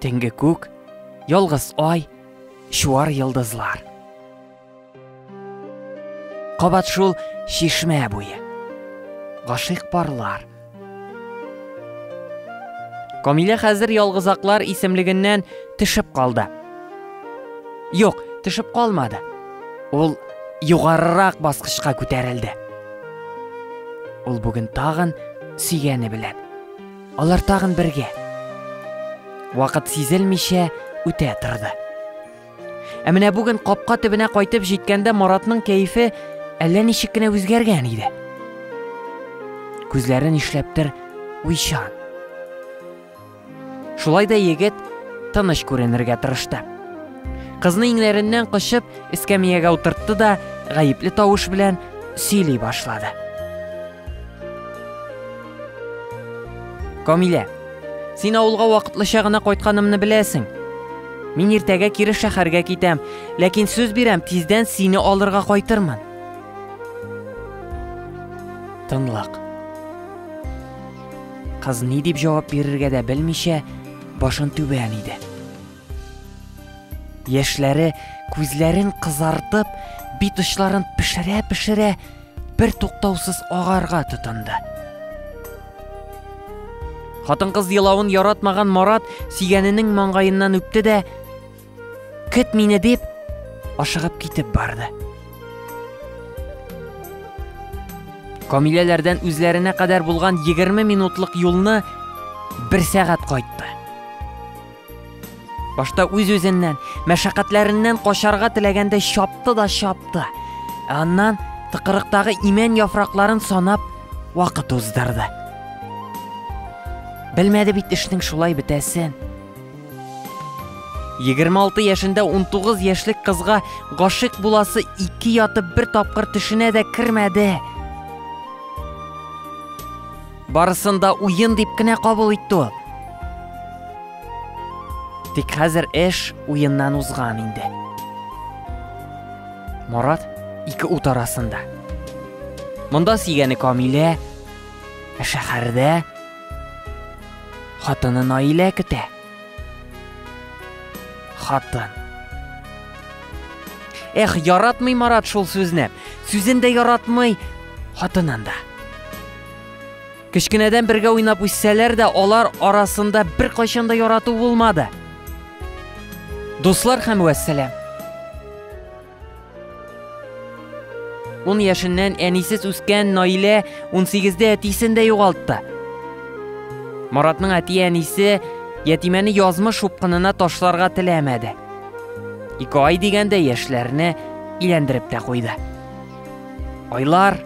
Төнге күк, ялгыз ай, чуар йолдызлар. Кабат шул чишмә буе. Гашыйк парлар. Камилә хәзер ялгызаклар исемлегеннән төшеп калды. Юк, төшеп калмады. Ул югарырак баскычка күтәрелде. Ул бүген тагын сөйгәне белән Алар тагын бергә. Вакыт сизелмичә үтә торды. Ә менә бүген капка төбенә кайтып җиткәндә Маратның кәефе әллә ничек кенә үзгәргән иде. Күзләрен ишләптер уйчан. Шулай да егет тыныч күренергә тырышты. Кызны иңнәреннән кочып, эскәмиягә утыртты да, гаепле тавыш белән сөйли башлады. Камилә. Син авылга вакытлыча гына кайтканымны беләсең. Мин иртәгә кире шәһәргә китәм, ләкин сүз бирәм, тиздән сине алырга кайтырмын. Тынлык. Кыз ни дип җавап бирергә дә белмичә, башын түбән иде. Яшьләре күзләрен кызартып, бит очларын пешерә-пешерә, бер туктаусыз агарга тотынды. Хатын-кыз елавын яратмаган Марат сөйгәненең маңгаеннан үпте дә, "Көт мине" дип, ашыгып китеп барды. Камиләләрдән үзләренә кадәр булган 20 минутлык юлны бер сәгать кайтты. Башта үз-үзеннән, мәшәкатьләреннән качарга теләгәндәй чапты да чапты. Ә аннан тыкырыктагы имән яфракларын санап, вакыт уздырды. Белмәде бит эшнең шулай бетәсен. 26 яшендә 19 яшьлек кызга гашык буласы ике ятып бер тапкыр төшенә дә кермәде. Барысын да уен дип кенә кабул итте ул. Тик хәзер эш уеннан узган инде. Марат ике ут арасында. Монда сөйгәне Камилә, ә шәһәрдә хатыны Наилә көтә. Хатын. Эх, яратмый Марат шул сүзне. Сүзен дә яратмый, хатынын да. Кечкенәдән бергә уйнап үссәләр дә, алар арасында бер кайчан да ярату булмады. Дуслар һәм вәссәлам. Ун яшеннән әнисез үскән Наилә 18-дә әтисен дә югалтты. Маратның әти-әнисе ятимәне язмыш упкынына ташларга теләмәде. Ике ай дигәндә яшьләрне иләндереп тә куйды. Айлар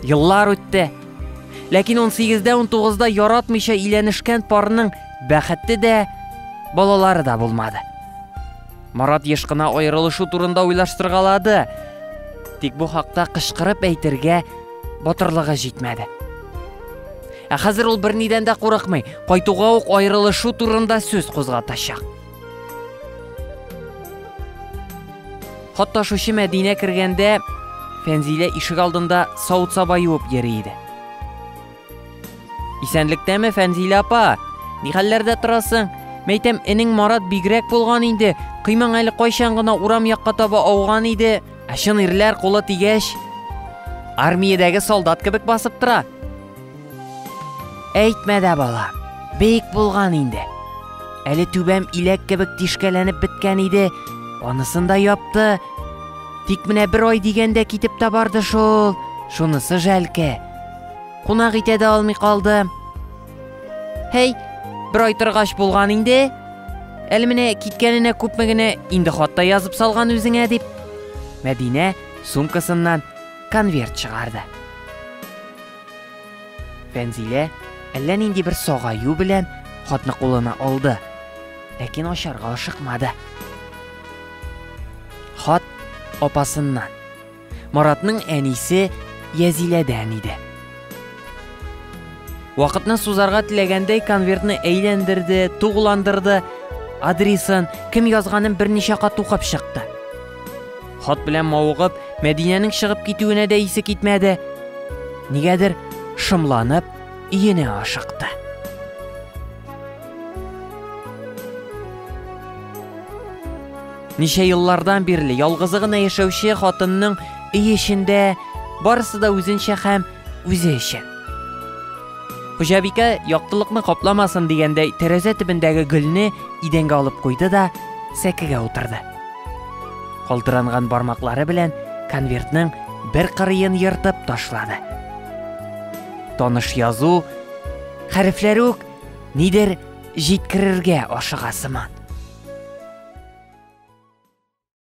Еллар үтте. Ләкин 18-19-да яратмыйча иләнешкән парның бәхете дә, балалары да булмады. Марат еш кына аерылышу турында уйлаштыргалады. Тик бу хакта кычкырып әйтергә батырлыгы җитмәде. Ә хәзер ул бернидән дә курыкмый, кайтуга ук аерылышу турында сүз кузгатачак. Катнашучы Мәдинә кергәндә, Фәнзилә ишек алдында савыт-саба юып йөри иде. Исәнлектәме, Фәнзилә апа? Ни хәлләрдә торасың? Мәйтәм, энең Марат бигрәк булган инде. Кыймаң әле кайчан гына урам якка таба ауган иде. Ә чын ирләр кулы тигәч, армиядәге солдат кебек басып тора. Әйтмә дә, бала, бик булган инде. Әле түбәм иләк кебек тишкәләнеп беткән иде, анысын да япты. Тик менә бер ай дигәндә китеп тә барды шул, шунысы жәлке. Кунак итә дә алмый калды. Һәй, бер ай торгач булган инде. Әле менә киткәненә күпме генә инде хатта язып салган үзеңә дип. Мәдинә сумкасыннан конверт чыгарды. Фәнзилә әллә нинди бер сагаю белән хатны кулына алды, ләкин ачарга ашыкмады. Хат апасыннан. Маратның әнисе Язиләдән иде. Вакытны сузарга теләгәндәй конвертны әйләндерде, тугландырды, адресын, кем язганын берничә кат укып чыкты. Хат белән мавыгып, Мәдинәнең чыгып китүенә дә исе китмәде. Нигәдер шымланып, иене ашыкты. Ничә еллардан бирле ялгызы гына яшәүче хатынның өй эчендә барысы да үзенчә һәм үзе өчен. Хуҗабикә яктылыкны капламасын дигәндәй тәрәзә төбендәге гөлне идәнгә алып куйды да сәкегә утырды. Калтыранган бармаклары белән конвертның бер кырыен ертып ташлады. Таныш язу, хәрефләре үк нидер җиткерергә ашыга сыман.